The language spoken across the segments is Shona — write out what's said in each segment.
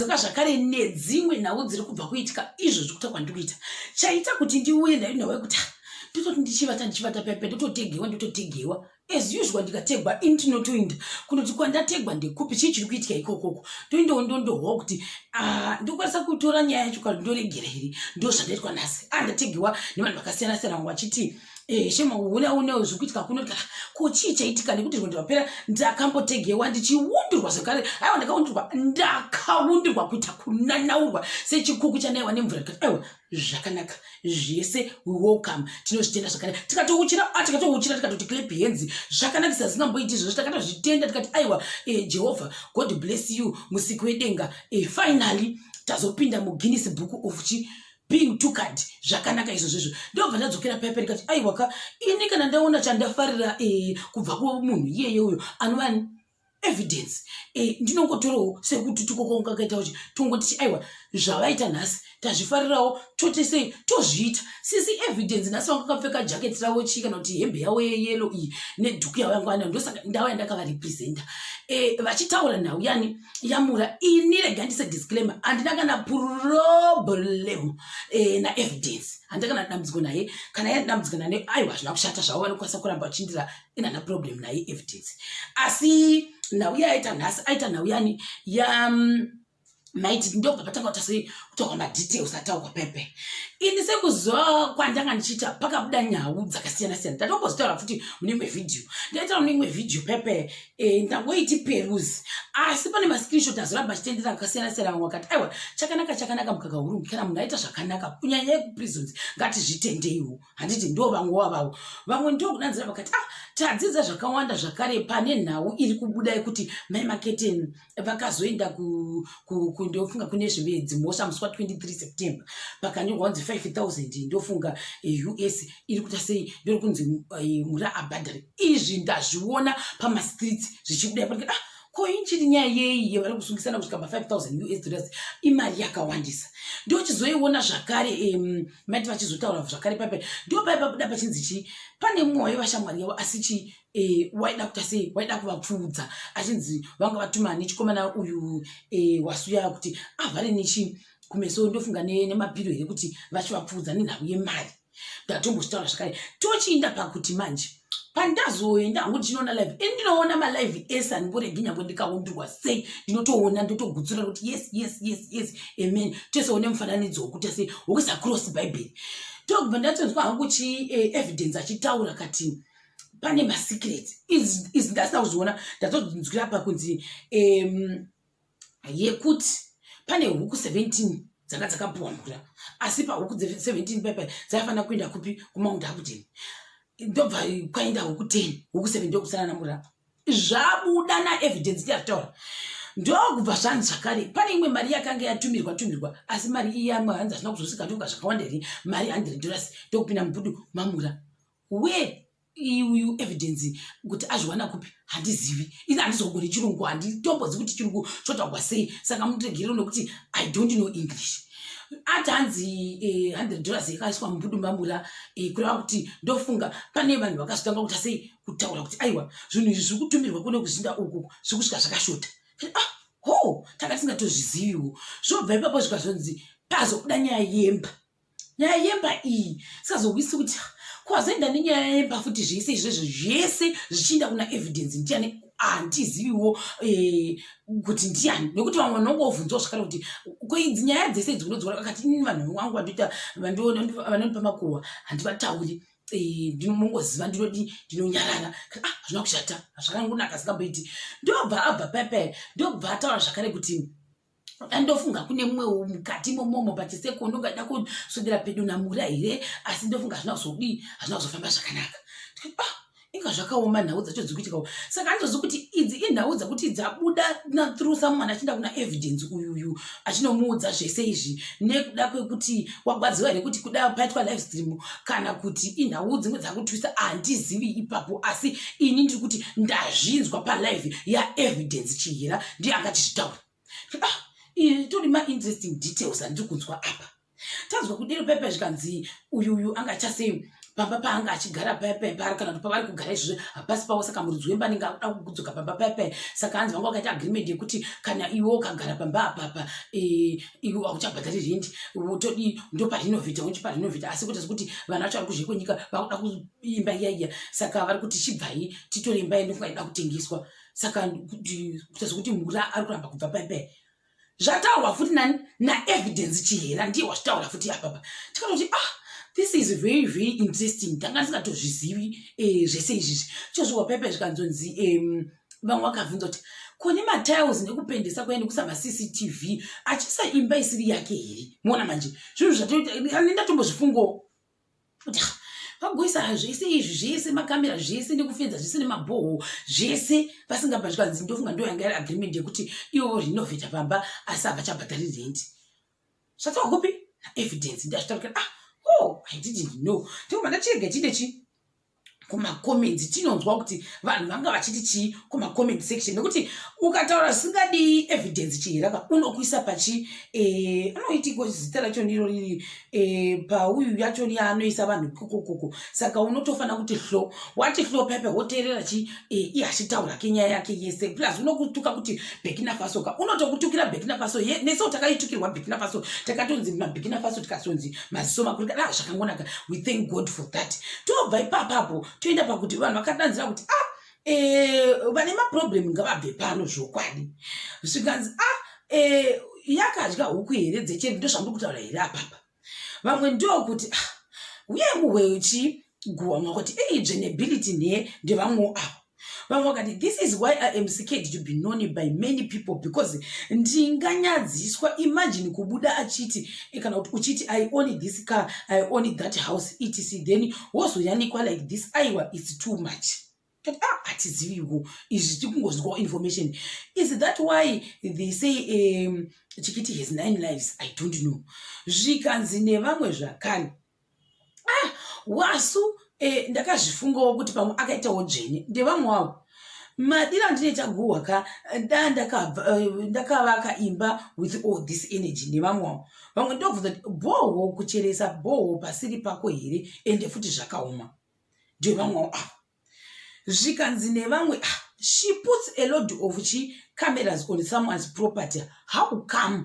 Dzoka zvakare nedzimwe nhau dziri kubva kuitika izvo zvikuita kwandiri kuita chaita kuti ndiuye ndayo nhau yekuti ah, ndototi ndichivata ndichivata pepe ndototegewa ndototegewa as usual ndikategwa ini tinotoinda kunoti kwandategwa ndekupi chii chiri kuitika ikokoko toindawo ndondohwa kuti ah, ndokwanisa kutora nyaya yacho kana ndoregera here ndozvandaitwa nhasi andategewa ah, nevanhu vakasiyana siyana vamwe vachiti Eh, shema huna unewo zvikuitika kuno kuti ah, ko chii chaitika nekuti rwendo rwapera ndakambotegewa ndichiundurwa zvekare aiwa ndakaundurwa ndakaundurwa kuita kunanaurwa sechikuku chanaiwa nemvura tikati aiwa zvakanaka zvese we welcome tinozvitenda zvakanaka tikatouchira ah, tikatouchira tikatoti clap hands zvakanakisa zvisingamboiti izvozvo takatozvitenda tikati aiwa eh, jehovha god bless you musiki wedenga eh, finally tazopinda muguinness book of chi being too kind zvakanaka izvo zvezvo ndobva ndadzokera paya paya ndikati aiwa ka ini kana ndaona chandafarira eh, kubva kumunhu iyeye uyo anova evidence eh, ndinongotorawo sekuti tukokonga kaita kuti tongotichi aiwa zvavaita nhasi tazvifarirawo tote sei tozviita sisi evidence nhasi vanga kapfeka jacket ravo chii kana kuti hembe yavo yeyelo iyi nedhuku yavo yangu anayo ndosaka ndauya ndakavarepresenta eh, vachitaura nhau yani yamura ini rega ndise disclaimer handina kana problem eh, naevidence handina kana dambudziko naye kana ya dambudziko nane aiwa hazvina kushata zvavo vanokwanisa kuramba vachindira ina na problem naye evidence asi nhau yaaita nhasi aita nhau yani ya mm, maiti ndobva patanga kutasi kutaurwa madetails ataurwa pepe ini sekuziva kwandanga ndichiita pakabuda nhau dzakasiyana siyana ndatombozotaura futi mune imwe vhidhiyo ndaitaura mune imwe vhidhiyo pepe Eh, ndangoiti peruzi asi pane mascreenshot azoramba achitendera akasiyana siyana vamwe vakati aiwa chakanaka chakanaka mukaka hurungu kana munhu aita zvakanaka kunyanya yekuprisons ngatizvitendeiwo handiti ndo vamwe wavavo vamwe ndokudanzira vakati ah tadzidza zvakawanda zvakare pane nhau iri kubuda yekuti mai maketeni vakazoenda kundofunga ku, ku, kune zvimwe dzimhosva musi wa 23 september pakanyorwa kunzi 5000 ndofunga eh, us iri kuita sei ndori kunzi eh, mura abhadhari izvi ndazviona pamastreets zvichibuda panike ah, ko inchiri nyaya yei yevari kusungisana kusvika pa 5000 us dollars imari yakawandisa ndochizoiona zvakare um, mati vachizotaura zvakare pape ndopaipabuda pachinzi chii pane mumwe waiva shamwari yavo asi chii eh, waida kuta sei waida kuvapfuudza achinzi vanga vatuma nechikomana uyu eh, wasuya kuti avhare nechii kumeso ndofunga nemapiro here kuti vachivapfuudza nenhau yemari ndatombochitaura zvakare tochiinda pakuti manje pandazoenda hangu ndichinoona live ini ndinoona malive ese handimboregi nyangwe ndikaundurwa sei ndinotoona ndotogutsura kuti yes yes yes yes amen tese one mufananidzo wokuta sei wokuisa cross bhaibheri tokubva ndatonzwa hangu chi eh, evidence achitaura kati pane masecret izi ndasina kuzviona ndatozvinzwira pa kunzi um, yekuti pane huku 17 dzanga dzakapuwa mvura asi pahuku 17 pepe dzaifanira kuenda kupi kumount abuden ndobva kwaenda huku 10 huku 7 ndokusana namvura zvabuda naevidence ndiyatoa ndokubva zvanzi zvakare pane imwe mari yakanga yatumirwa tumirwa asi mari iyamwe hanzi hazvina kuzosika ndoka zvakawanda here mari 100 dollars ndokupinda mubudu mamura where iuyu evidence kuti azviwana kupi handizivi ini handizogoni chirungu handitombodzi kuti chirungu chotaugwa sei saka muregerero nokuti i don't know english ati hanzi eh, hundred dollars yakaiswa mubudumbambura eh, kureva kuti ndofunga pane vanhu vakazotanga kuta sei kutaura kuti aiwa zvinhu izvi zviri kutumirwa kune kuzinda uku zviri kusvika zvakashota ah, ho tanga tisingatozviziviwo zvobva ipapo zvikazonzi pazobuda nyaya yemba nyaya yemba iyi sazowisi kuti kwazoenda nenyaya yemba futi zvese izvezvo zvese zvichienda kuna evidence ndiani handiziviwo eh, kuti ndiani nekuti vamwe vanonga vobvunzwa zvakare kuti koidzi nyaya dzese idzi unodziona kakati ini vanhu vangu vandoita vanonipa makuhwa handivatauri eh, ndinongoziva ndinodi ndinonyarara ah, hazvina kushata hazvakangonaka asingamboiti ndobva abva pepere ndobva ataura zvakare kuti ndofunga kune mumwe mukati momomo pachisekondo ngaida kuswedera pedo namura here asi ndofunga hazvina kuzodii hazvina kuzofamba zvakanaka ah, inga zvakaoma nhau dzacho dzikuitikawo saka anitozi kuti idzi inhau dzakuti dzabuda nathrough someone achienda kuna evidence uyuyu achinomuudza zvese izvi nekuda kwekuti wagwadziwa here kuti kuda paitwa live stream kana kuti inhau dzimwe dzakutwisa handizivi ipapo asi ini ndiri kuti ndazvinzwa palive yaevidence chihira ndiye akatizvitaura ah, itori mainteresting details andiri kunzwa apa tanzwa kudiro pepe zvikanzi uyu uyu anga achasei pamba paanga achigara pepe paari kana kuti pavari kugara izvozvo hapasi pavo saka muridzi wemba anenge akuda kudzoka pamba pepe saka anzi vanga vakaita agreement yekuti kana iwe ukagara pamba apapa e, iwe auchabhadhari rent wotodi ndoparinovhita woti parinovhita asi kuti kuti vana vacho vari kuzve kwenyika vakuda kuimba iya iya saka vari kuti chibvai titore imba yedu kungaida kutengeswa saka kuita sokuti mura ari kuramba kubva paipai zvataurwa futi nani naevidence chihera ndiye wazvitaura futi apapa tikatoti ah this is very very interesting tanga ndisingatozvizivi eh, zvese izvizvi chozviwa paipai zvikanzonzi vamwe vakabvunza kuti kune matiles nekupendesa kuya nekusa macctv achisa imba isiri yake here muona manje zvinhu zvatanendatombozvifungawo vagoisa zvese izvi zvese makamera zvese nekufenza zvese nemabhoho zvese vasingabva zvikanzi ndofunga ndo yanga yari agreement yekuti ivo rinovheta pamba asi havachabhadhari rent zvatawa kupi naevidence ndazvitaukira ah oh i didn't know ndikubva ndachirega chide chii kumacomments tinonzwa kuti vanhu vanga vachiti chii kumacomment section nekuti ukataura zvisingadi evidence chihiraka unokuisa pachi eh, anoitiko zita racho ndiro riri eh, pauyu yacho yaanoisa vanhu kokokoko saka unotofanira kuti hlo wati hlo pepe woteerera chii e, iye achitaura ke nyaya yake yese plus unokutuka kuti bekina faso ka unotokutukira bekina faso ye neso takaitukirwa bekina faso takatonzi mabekina faso tikasonzi maziso makuru ka ah, zvakangonaka we thank god for that tobva ipapapo toenda pakuti vanhu vakadanzira kuti ah e, vane maproblem ngavabve pano zvokwadi zvikanzi ah e, yakadya huku here dzecheri ndozvandiri kutaura here apapa vamwe ndokuti ah, uye nguhwe uchiguhwa mwa kuti ei dzvenebility nhe ndevamwewo avo vamwe vakati this is why i am scared to be known by many people because ndinganyadziswa imagine kubuda achiti eh, kana kuti uchiti i own this car i own that house etc then wozoyanikwa like this aiwa its too much Ah, hatiziviwo izvi tiri kungozwawo information is that why they say um, chikiti has nine lives i don't know zvikanzi nevamwe zvakani ah wasu eh, ndakazvifungawo kuti pamwe akaitawo dzvene ndevamwe wavo madira ndine chaguhwa ka da eh, ndakavaka imba with all this energy nevamwe wavo vamwe ndobvunza kuti bhohwo kucheresa bhohwo pasiri pako here ende futi zvakaoma ndevamwewo ava zvikanzi nevamwe ah, she puts a load of chi cameras on someone's property how come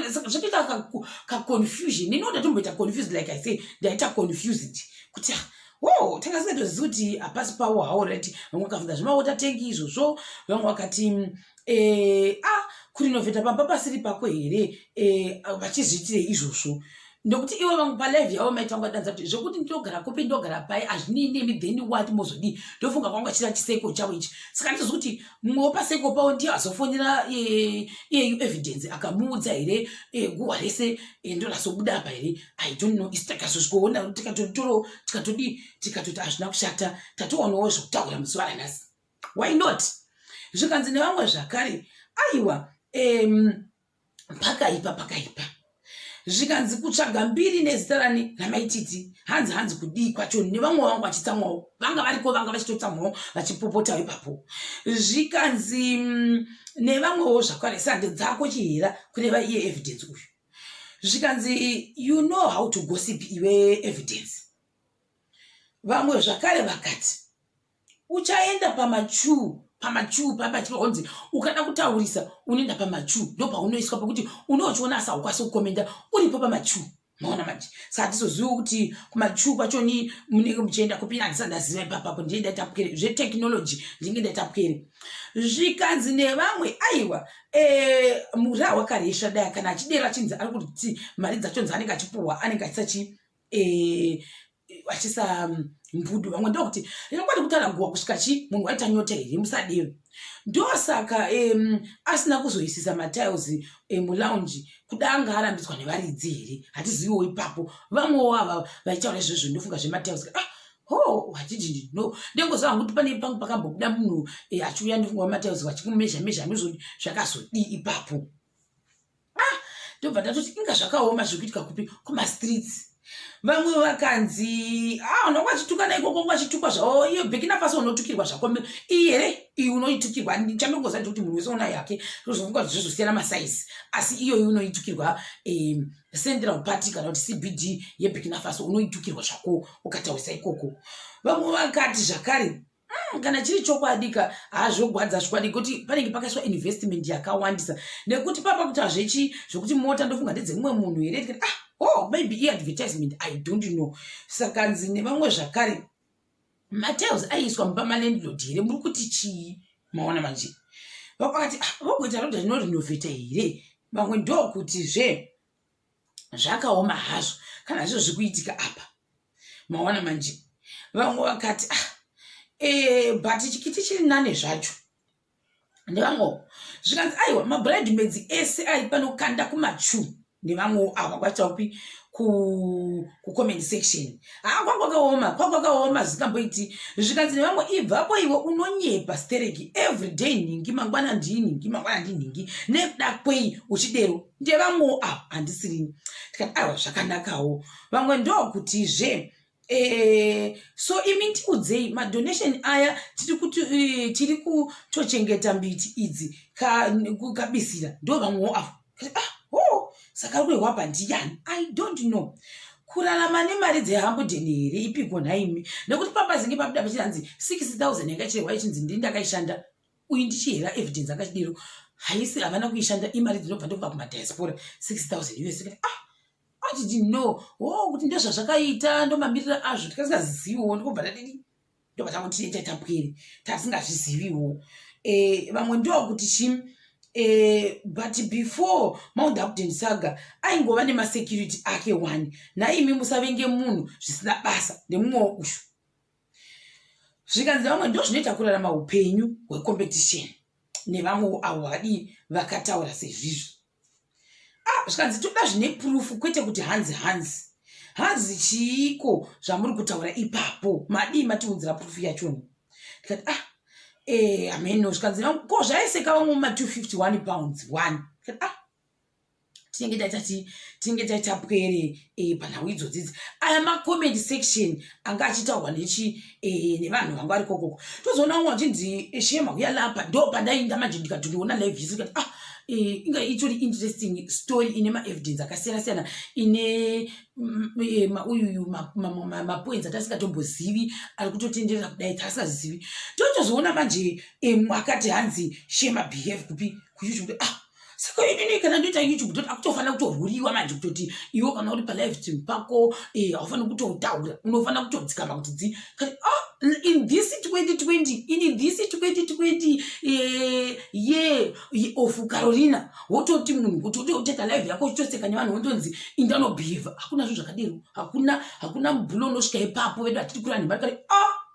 zvatoita kaconfusion ini ndatomboita confused like i say ndaita confused kuti ah, wo tanga singatozivi kuti hapasi pawo hawo rati vamwe vakafunga zvemaota tengi izvozvo vamwe vakati mm, eh, ah, kurinovheta pamba pasiri pako here eh, vachizviitire izvozvo nokuti ivo vamwe palive yavo maiti vanga vadanza kuti zvekuti ndogara kupi ndogara pai hazvinei nemi then wati mozodii ndofunga kwanga chira chiseko chavo ichi saka nditozi kuti mumwe wepaseko pavo ndiye azofonera eh, iyeyu evidence akamuudza here eh, guhwa rese eh, ndorazobuda apa here i don't know isi takazozvikoona tikatotoro tikatodii tikatoti hazvina kushata tatowanawo zvekutaura muzuva ranhasi why not zvikanzi nevamwe zvakare aiwa um, pakaipa pakaipa zvikanzi kutsvaga mbiri nezita rani ramaititi hanzi hanzi kudii kwacho nevamwe vangu vachitsamwawo vanga variko vanga vachitotsamwawo vachipopotawo ipapo zvikanzi mm, nevamwewo zvakare sande dzako chihera kureva iye evidence uyu zvikanzi you know how to gossip iwe evidence vamwe zvakare vakati uchaenda pamachuu pamachuu paya pachinoonzi ukada kutaurisa unoenda pamachuu ndo paunoiswa pekuti unochiona asi haukwanisi kukomenda uripo pamachuu maona manje saka tizoziva kuti kumachuu kwacho ni munenge muchienda kupi andisa ndaziva ipapapo ndie ndaitapukere zvetechnology ndinge ndaitapukere zvikanzi nevamwe aiwa eh, murahwa karesva daya kana achidera chinzi ari kuti mari dzachonzi anenge achipuhwa anenge achisachii eh, vachisa mm, mbudu vamwe ndokuti rino kwati kutara guwa kusvika chi munhu waita nyota here musadero ndosaka um, asina kuzoisisa matiles emulounge um, kuda anga arambidzwa nevaridzi here hatiziviwo ipapo vamwewo ava vaitaura izvozvo ndofunga zvematiles ah, ho hatidii no ndengoziva hangu kuti pane pangu pakambobuda munhu eh, achiuya ndofunga vamatiles vachikumezha mezha ndozvodi zvakazodii ipapo ah ndobva ndatoti inga zvakaoma zvekuitika kupi kumastreets vamwe vakanzi ah unonga achitukana ikoko unga achitukwa zvavo iyo bekina fasi unotukirwa zvako iyi here iyi unoitukirwa chandongoza ndikuti munhu wese una yake zvozovuka kuti zvozosiyana masaizi asi iyoyi unoitukirwa um, central party kana kuti cbd yebekina fasi unoitukirwa zvako ukataurisa ikoko vamwe vakati zvakare Mm, kana chiri chokwadika hazvogwadza zvikwadi kuti panenge pakaiswa investment yakawandisa nekuti papa kuti hazvechi zvekuti mota ndofunga ndedzemumwe munhu here tikati ah oh maybe iadvertisement i don't know saka nzi nevamwe zvakare matiles aiiswa mupa malandlord here muri kuti chii maona manje vakakati ah, vogoita roda rinorenovheta here vamwe ndokuti zve zvakaoma hazvo kana zvo zvikuitika apa maona manje vamwe vakati ah, e, but chikiti chiri nane zvacho ndevamwewo zvikanzi aiwa mabride maids ese ari panokanda kumachu nevamwewo ava kwaita kupi kucomment section haa ah, kwakwakaoma kwakwakaoma zvikamboiti zvikanzi nevamwe ibvapo iwe unonyepa stereki everyday nhingi mangwana ndii nhingi mangwana ndii nhingi nekuda kwei uchidero ndevamwewo avo handisirini tikati aiwa zvakanakawo vamwe ndokutizve Eh, so imi ndiudzei madonation aya tiri kuti eh, tiri kutochengeta mbiti idzi kabisira ndo vamwewo avo ah, oh, saka ari kuehwapa ndiyani i don't know kurarama nemari dzehambuden here ipiko nhaimi nekuti papazinge pabuda pachinanzi 6000 yanga chirehwa ichinzi ndini ndakaishanda uyu ndichihera evidence akachidiro haisi havana kuishanda imari dzinobva ndokubva kumadiaspora 6000 us ah atiti no o oh, kuti ndezvazvakaita ndomamirira azvo tikasingaziziviwo ndikobva tadii ndobva tango tine chaitapwiri tasingazviziviwo eh, vamwe ndo kuti chim eh, but before mount upden saga aingova nemasecurity ake one naimi musavenge munhu zvisina basa nemumwewo ushu zvikanzi vamwe ndozvinoita kurarama upenyu hwecompetition nevamwewo avo vadii vakataura sezvizvi ah, zvikanzi toda zvine purufu kwete kuti hanzi hanzi hanzi chiiko zvamuri kutaura ipapo madii matiunzira purufu yachoni tikati ah eh, ameno zvikanzi ko zvaiseka vamwe ma 251 pounds one tikati ah tinenge taita ti tinenge taita pwere e, panhau idzodzidzi aya macomment section anga achitaurwa nechi e, nevanhu vanga vari kokoko tozoona umwe achinzi eh, shema uya lapa ndo pandainda manje ndikati ndiona live yesu ndikati ah Eh, inga itori interesting story ine maevidence akasiyana siyana ine mm, eh, mauyuyu mapoints atasingatombozivi ari kutotenderera kudai taasazivi totozoona manje eh, mwakati hanzi shema behave kupi kuyoutube kuti ah saka inini kana ndoita youtube kutoti akutofanira kutorwuriwa manje kutoti iwo kana uri palive stream pako eh, haufaniri kutotaura unofanira kutodzikama kuti dzi kati oh, in this 2020 in this 2020 eh, ye of carolina wototi munhu kuti utoita live yako uchitoseka nevanhu wondonzi indanobehava hakuna zvo zvakadero hakuna hakuna mubhulo unosvika ipapo vedu hatiti kurani mari kati oh, ah,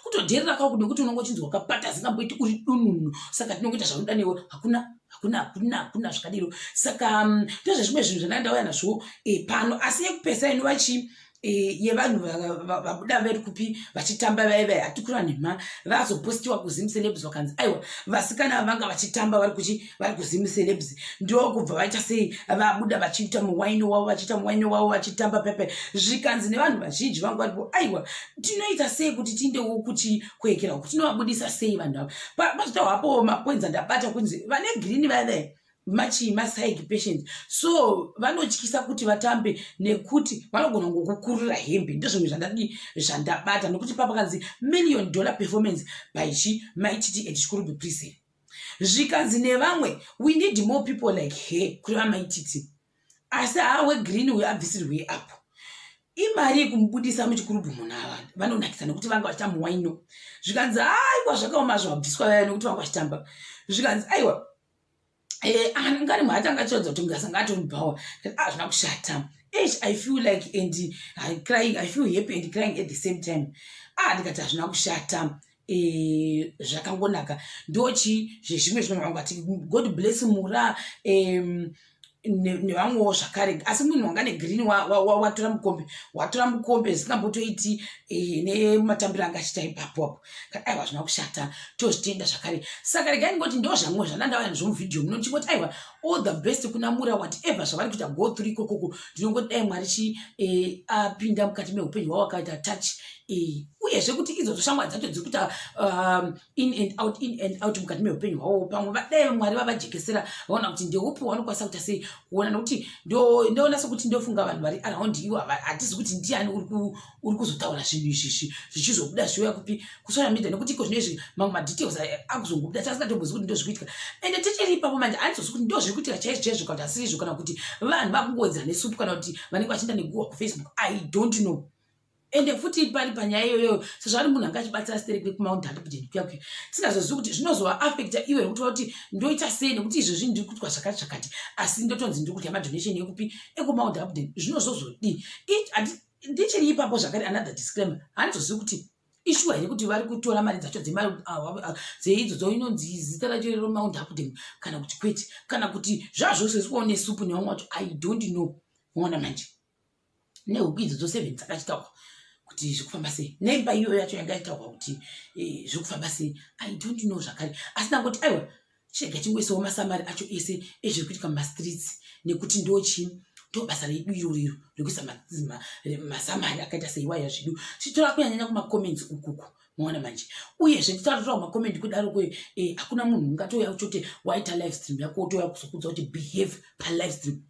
kutodherera kako nekuti unonga uchinzi wakapata asingamboiti uri dununu saka tinongoita zvaunoda newe hakuna hakuna hakuna hakuna zvakadiro saka mm, ndozvezvimwe zvinhu zvandanga ndauya nazvo eh, pano asi yekupesa inova chii Eh, yevanhu vabuda veri kupi vachitamba vaye vaye hatikura nhema vazopostiwa kuzim celebs vakanzi aiwa vasikana vavanga vachitamba vari kuchi vari kuzim celebs ndokubva vaita sei vabuda vachiita muwaini wavo vachiita muwaini wavo vachitamba pepe zvikanzi nevanhu vazhinji vangu varipo aiwa tinoita sei kuti tiindewo kuti kuekera kuti tinovabudisa sei vanhu ava pazvita hwapo mapoints andabata kunzi vane green vathe machii masaiki patient so vanotyisa kuti vatambe nekuti vanogona ngokukurira hembe ndozvimwe zvandadii zvandabata nokuti papakanzi million dollar performance by chi maititi at chikurubi prison zvikanzi nevamwe we need more people like her kuri vamaititi asi haa wegreen uyo abvisirwei apo imari yekumubudisa muchikurubhu munhu ava vanonakisa nekuti vanga vachitamba waino zvikanzi aiwa zvakaoma zvabviswa vaya nekuti vanga vachitamba zvikanzi aiwa eh, ngani mhati anga achiratidza kuti ngasa ngatomubhawa hazvina ah, kushata eish i feel like and crying i feel happy and crying at the same time ah ndikati hazvina kushata zvakangonaka e, ndochi zvezvimwe zvinhu vangu vati god bless mura um, nevamwewo zvakare asi munhu wanga negreen watora mukombe watora mukombe zisingambotoiti eh, nematambiro anga achita ipapo apo kati aiwa zvina kushata tozvitenda zvakare saka regai ndingoti ndo zvamwe zvanandavaya zvomuvhidhiyo muno ndichingoti aiwa all the best kuna mura whatever zvavari kuita go through ikokoko ndinongoti dai mwari chi eh, apinda mukati meupenyu hwavo akaita touch eh, uyezve kuti idzo dzoshamwa dzacho dziri kuita um, in and out in and out mukati meupenyu hwavo pamwe vadai mwari vavajekesera vaona kuti ndeupi wanokwanisa kuita sei kuona nokuti ndonasa kuti ndofunga vanhu vari around iwo hatizi kuti ndiani uri uri kuzotaura zvinhu izvi zvichizobuda zviuya kupi kusocial media nekuti iko zvino izvi mamwe madetails akuzongobuda tiasinatombozi kuti ndo zviri kuitika ende tichiri ipapo manje andizozi kuti ndo zviri kuitika chaizvo chaizvo kana kuti asirizvo kana kuti vanhu vakungowedzera nesupu kana kuti vanenge vachienda neguwa kufacebook i don't know ende futi pari panyaya iyoyo sezvaari munhu anga achibatsira stere kwe kumount handipdeni kuya kuya tisingazozivi kuti zvinozova affecta iwe rekutova kuti ndoita sei nekuti izvo zvinhu ndiri kutwa zvakati zvakati asi ndotonzi ndiri kudya madonation ekupi ekumount handipdeni zvinozozodii ndichiri ipapo zvakare another disclaimer handizozivi kuti ishuwa here kuti vari kutora mari dzacho dzeidzo dzoinonzi zita racho rero mount updam kana kuti kwete kana kuti zvazvose zvikuone supu nevamwe wacho i don't know moona manje nehuku idzo dzoseven dzakachitaurwa kuti zviri kufamba sei nemba iyoyo yacho yanga itaurwa kuti eh, zviri kufamba sei i don't know zvakare asi ndangoti aiwa chirega chingoisawo masamari acho ese ezviri kuitika mumastreets nekuti ndochii ndobasa redu iro riro rekuisa masamari akaita seiwaya zvedu titora kunyanyanya kumacomments ukuku maona manje uyezve titatotora kumacommenti kudaro kwe eh, hakuna munhu ungatouya kuti waita live stream yako wotouya kuzokudza kuti behave palive stream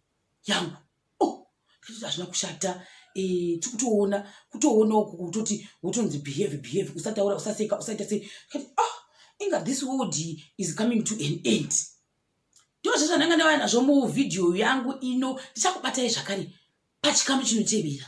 yangu oh zvitoti hazvina kushata eh tikutoona kutoona uku kutoti wotonzi behave behave usataura usaseka usaita sei kati ah inga this world is coming to an end ndozvo zvandanga ndavaya nazvo muvhidhiyo yangu ino ndichakubatai zvakare pachikamu chinotevera